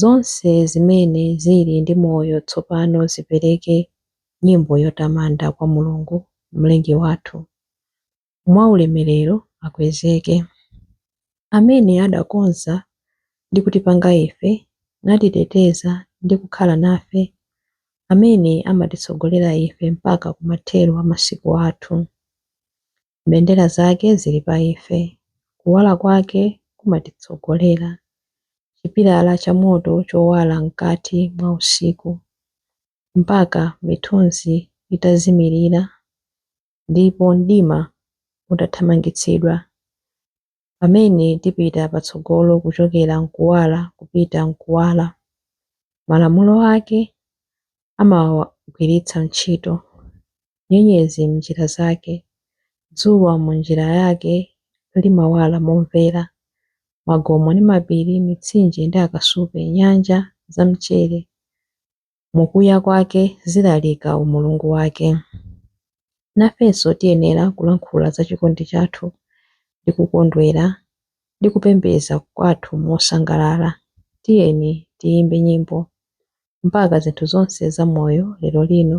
Zonse zimene zili ndi moyo tsopano zipereke nyimbo yotamanda kwa Mulungu, Mlengi wathu. Mwaulemerero akwezeke Amene adakonza ndi kutipanga ife, natiteteza ndi kukhala nafe, Amene amatitsogolera ife mpaka kumathero a masiku athu. Mbendera zake zili pa ife, kuwala kwake kumatitsogolera, chipilala cha moto chowala mkati mwa usiku, mpaka mithunzi itazimirira ndipo mdima utathamangitsidwa, Pamene tipita patsogolo kuchokera m'kuwala kupita m'kuwala, malamulo ake amawagwiritsa ntchito, nyenyezi m'njira zake, dzuwa mu njira yake limawala momvera, magomo ndi mapiri, mitsinje ndi akasupe, nyanja za mchere, mu kuya kwake zilalika umulungu wake. Nafenso tiyenera kulankhula za chikondi chathu ndi kukondwera ndi kupembedza kwathu mosangalala. Tiyeni tiyimbe nyimbo mpaka zinthu zonse za moyo lero lino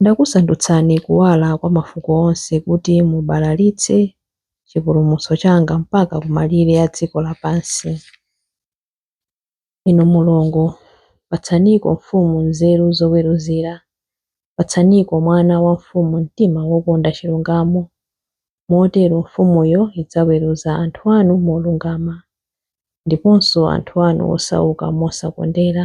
Ndakusandutsani kuwala kwa mafuko onse kuti mubalalitse chipulumutso changa mpaka kumalire a dziko lapansi. Inu Mulungu, patsaniko mfumu nzeru zoweruzira, patsaniko mwana wa mfumu mtima wokonda chilungamo. Motero mfumuyo idzaweruza anthu anu molungama, ndiponso anthu anu osauka mosakondera.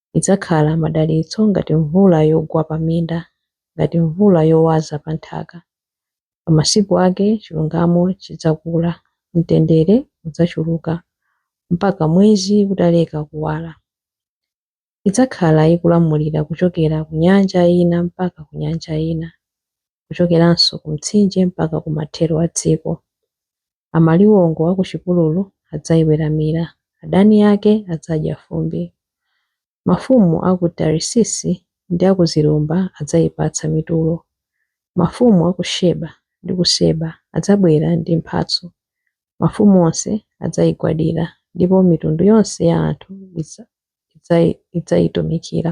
idzakhala madalitso ngati mvula yogwa pa minda, ngati mvula yowaza pa nthaka. Pa masiku ake chilungamo chidzakula, mtendere udzachuluka, mpaka mwezi utaleka kuwala. Idzakhala ikulamulira kuchokera ku nyanja ina mpaka ku nyanja ina, kuchokeranso ku Mtsinje mpaka ku mathero a dziko. Amaliwongo a ku chipululu adzaiweramira, adani ake adzadya fumbi. Mafumu a ku Tarisisi ndi a ku zilumba adzaipatsa mitulo. Mafumu a ku Sheba ndi ku Seba adzabwera ndi mphatso. Mafumu onse adzaigwadira, ndipo mitundu yonse ya anthu idzaitumikira.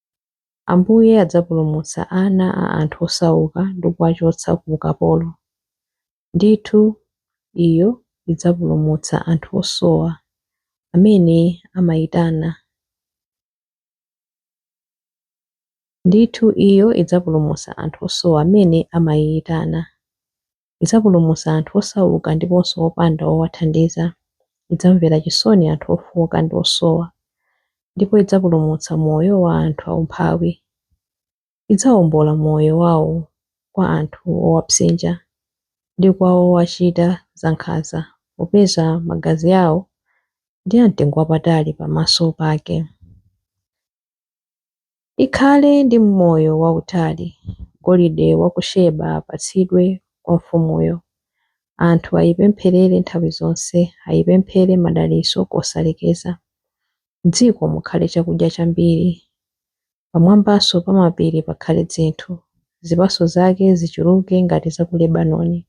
Ambuye adzapulumutsa ana a anthu osauka ndi kuwachotsa ku ukapolo. Ndithu, iyo idzapulumutsa anthu osowa amene amaitana. Ndithu, iyo idzapulumutsa anthu osowa amene amaiitana. Idzapulumutsa anthu osauka ndiponso opanda owathandiza. Idzamvera chisoni anthu ofooka ndi osowa, ndipo idzapulumutsa moyo wa anthu aumphawi. Idzawombola moyo wawo kwa anthu owapsinja ndi kwa owachita zankhanza, popeza magazi awo ndi amtengo wapatali pamaso pake. Ikhale ndi moyo wautali. Golide wa ku Sheba apatsidwe kwa mfumuyo. Anthu ayipempherere nthawi zonse, ayipemphere madalitso kosalekeza. M'dziko mukhale chakudya chambiri, pamwambanso pa mapiri pakhale dzinthu. Zipatso zake zichuluke ngati za ku Lebanoni,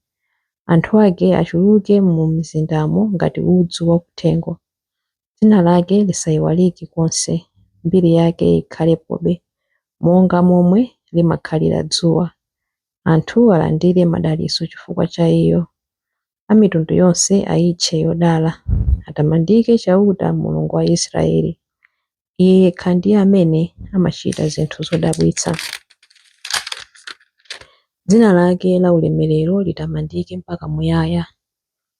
anthu ake achuluke mu mizindamo ngati udzu wa kuthengo. Dzina lake lisaiwalike konse, mbiri yake ikhalepobe monga momwe limakhalira dzuwa. Anthu alandire madalitso chifukwa cha iyo. A mitundu yonse aitche yodala. Atamandike Chauta, Mulungu wa Israele. Iye yekha ndiye amene amachita zinthu zodabwitsa. Dzina lake laulemerero litamandike mpaka muyaya.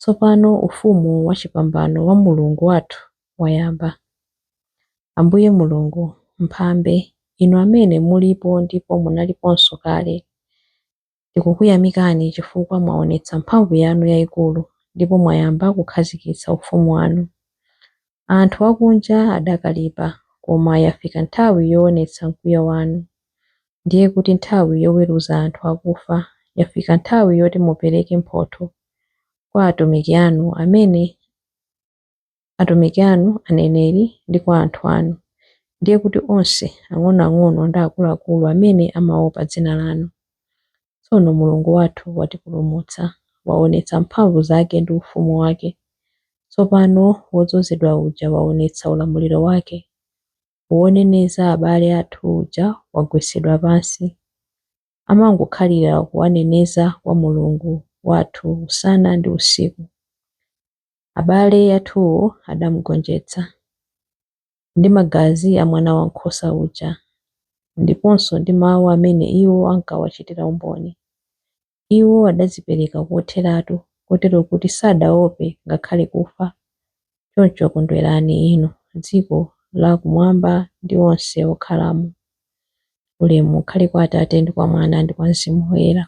Tsopano Ufumu wachipambano wa Mulungu wathu wayamba. Ambuye Mulungu, Mphambe, Inu Amene mulipo ndipo munaliponso kale, tikukuyamikani chifukwa mwaonetsa mphamvu yanu yaikulu ndipo mwayamba kukhazikitsa Ufumu wanu. Anthu akunja adakalipa, koma yafika nthawi yoonetsa mkwiyo wanu. Ndiye kuti nthawi yoweruza anthu akufa, yafika nthawi yoti mupereke mphotho kwa atumiki anu, amene atumiki anu aneneri, ndi kwa anthu anu, ndiye kuti onse ang'onoang'ono ndi akuluakulu amene amaopa dzina lanu. Tsono Mulungu wathu watipulumutsa, waonetsa mphamvu zake ndi ufumu wake. Tsopano wodzozedwa uja waonetsa ulamuliro wake. Woneneza abale athu uja wagwetsedwa pansi. Amangokhalira kuwaneneza kwa Mulungu wathu usana ndi usiku. Abale athuwo adamugonjetsa. ndi magazi a Mwanawankhosa uja, ndiponso ndi mawu amene iwo ankawachitira umboni. Iwo adadzipereka kotheratu kotero kuti sadaope ngakhale kufa. Choncho kondwerani inu, dziko lakumwamba ndi onse okhalamo. Ulemu ukhale kwa Atate, ndi kwa Mwana, ndi kwa Mzimu Woyera,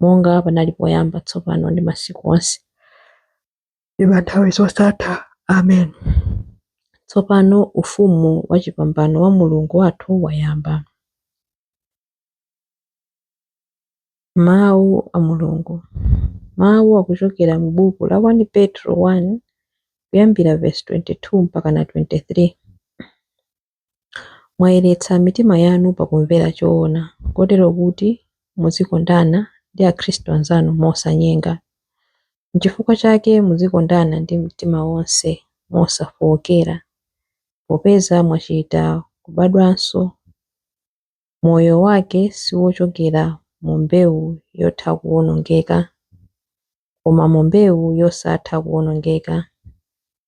monga panali poyamba, tsopano, ndi masiku onse. ndi pa nthawi zosatha. Amen. Tsopano Ufumu wachipambano wa Mulungu wathu wayamba. Mawu a Mulungu Mawu akuchokera mu buku la 1 Petro 1 kuyambira vesi 22 mpaka na 23. Mwayeretsa mitima yanu pakumvera choona, kotero kuti muzikondana ndi Akhristu anzanu mosanyenga. N'chifukwa chake muzikondana ndi mtima wonse mosafookera, popeza mwachita kubadwanso. Moyo wake si wochokera mu mbewu yotha kuwonongeka, koma mu mbewu yosatha kuwonongeka.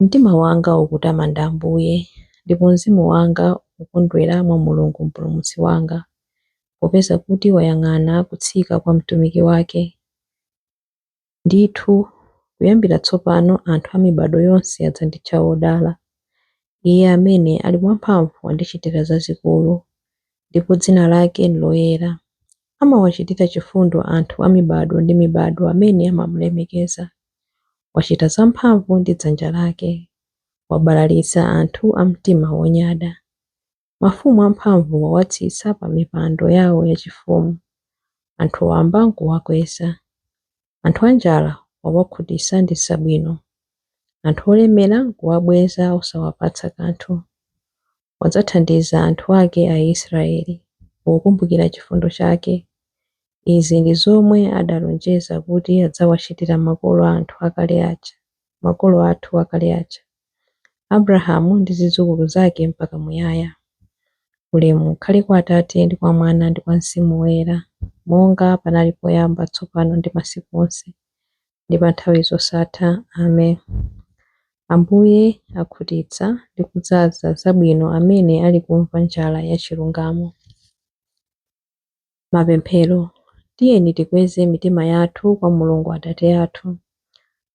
Mtima wanga ukutamanda Ambuye, ndipo mzimu wanga ukondwera mwa Mulungu Mpulumutsi wanga, popeza kuti wayang'ana kutsika kwa mtumiki wake. Ndithu, kuyambira tsopano anthu a mibadwo yonse adzanditcha wodala. Iye amene ali wamphamvu wandichitira zazikulu, ndipo dzina lake n'loyera. Amawachitira chifundo anthu a mibadwo ndi mibadwo amene amamulemekeza. Wachita zamphamvu ndi dzanja lake, wabalalitsa anthu a mtima wonyada. Mafumu amphamvu wawatsitsa pa mipando yawo yachifumu, anthu wamba n'kuwakweza. Anthu anjala wawakhutitsa ndi zabwino, anthu olemera n'kuwabweza osawapatsa kanthu. wadzathandiza anthu ake Aisraeli pokumbukira chifundo chake. Izi ndi zomwe adalonjeza kuti adzawachitira makolo, makolo athu akale aja, Abrahamu ndi zidzukulu zake mpaka muyaya. Ulemu ukhale kwa Atate ndi kwa Mwana ndi kwa Mzimu Woyera, monga panali poyamba, tsopano ndi masiku onse, ndi pa nthawi zosatha. Amen. Ambuye akhutitsa ndi kudzaza zabwino amene ali kumva njala ya chilungamo. Mapemphero Tiyeni tikweze mitima yathu kwa Mulungu Atate athu,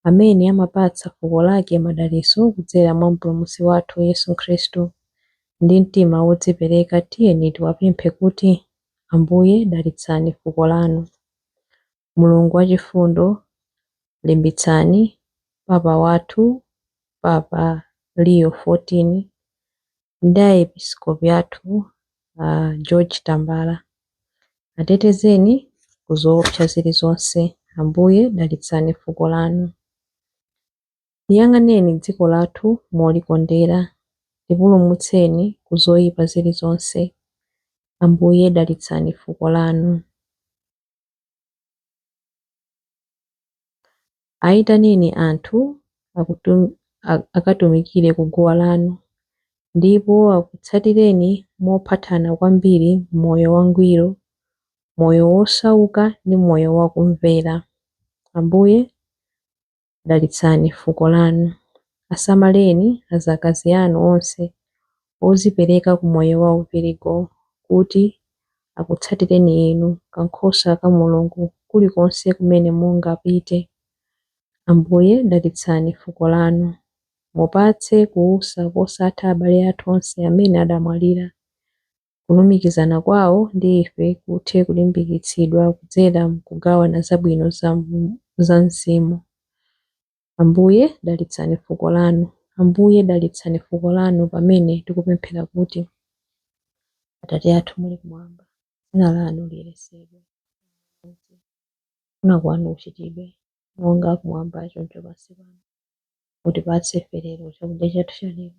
amene amapatsa fuko lake madalitso kudzera mwa Mpulumutsi wathu Yesu Khristu. Ndi mtima wodzipereka tiyeni tiwapemphe kuti, Ambuye dalitsani fuko lanu. Mulungu wachifundo, limbitsani Papa wathu Papa Leo 14 ndi Aepiskopi athu a George Tambala. Atetezeni ku zoopsa zili zonse. Ambuye dalitsani fuko lanu. Liyang'aneni dziko lathu molikondera. Lipulumutseni ku zoipa zili zonse. Ambuye dalitsani fuko lanu. Ayitaneni anthu akatumikire ku guwa lanu, ndipo akutsatireni mophathana kwambiri m'moyo wangwiro, moyo wosauka ndi moyo wakumvera. Ambuye, dalitsani fuko lanu. Asamaleni azakazi anu onse ozipereka ku moyo wa uvirigo kuti akutsatireni Inu, kankhosa ka Mulungu, kulikonse kumene mungapite. Ambuye, dalitsani fuko lanu. Mupatse kuusa kosatha abale athu onse amene adamwalira. Kulumikizana kwawo ndi ife kuthe kulimbikitsidwa kudzera mkugawana zabwino za Mzimu. Ambuye, dalitsani fuko Lanu. Ambuye, dalitsani fuko Lanu pamene tikupemphera kuti, Atate athu muli Kumwamba, dzina Lanu liyeretsedwe. Mudze. Kufuna Kwanu kuchitidwe, monga Kumwamba choncho pansi pano. Mutipatse ife lero chakudya chathu cha lero.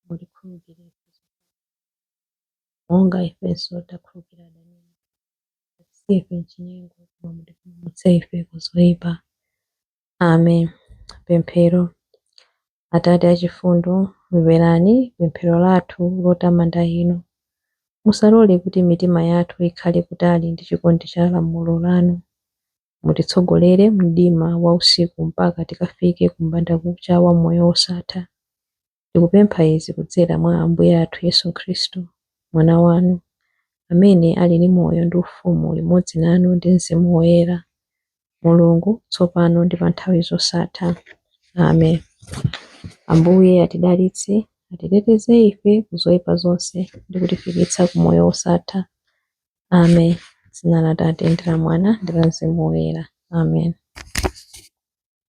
mutikhululukire ife zochimwa, monga ifenso takhululukira adani athu. Musatisiye ife m'chinyengo, koma mutipulumutse ife ku zoipa. Amen. Pemphero. Atate achifundo, mverani pemphero lathu lotamanda Inu. Musalole kuti mitima yathu ikhale kutali ndi chikondi cha lamulo lanu. Mutitsogolere m'mdima wa usiku mpaka tikafike ku mbandakucha wa moyo wosatha. Ndikupempha izi kudzera mwa Ambuye athu Yesu Khristu, Mwana wanu, amene ali ndi moyo ndi ufumu limodzi nanu ndi mzimu woyera, Mulungu, tsopano ndi pa nthawi zosatha. Amen. Ambuye atidalitse, atiteteze ife ku zoyipa zonse ndi kutifikitsa ku moyo wosatha. Amen. Dzina la Atate ndi la Mwana ndi la Mzimu Woyera. Amen.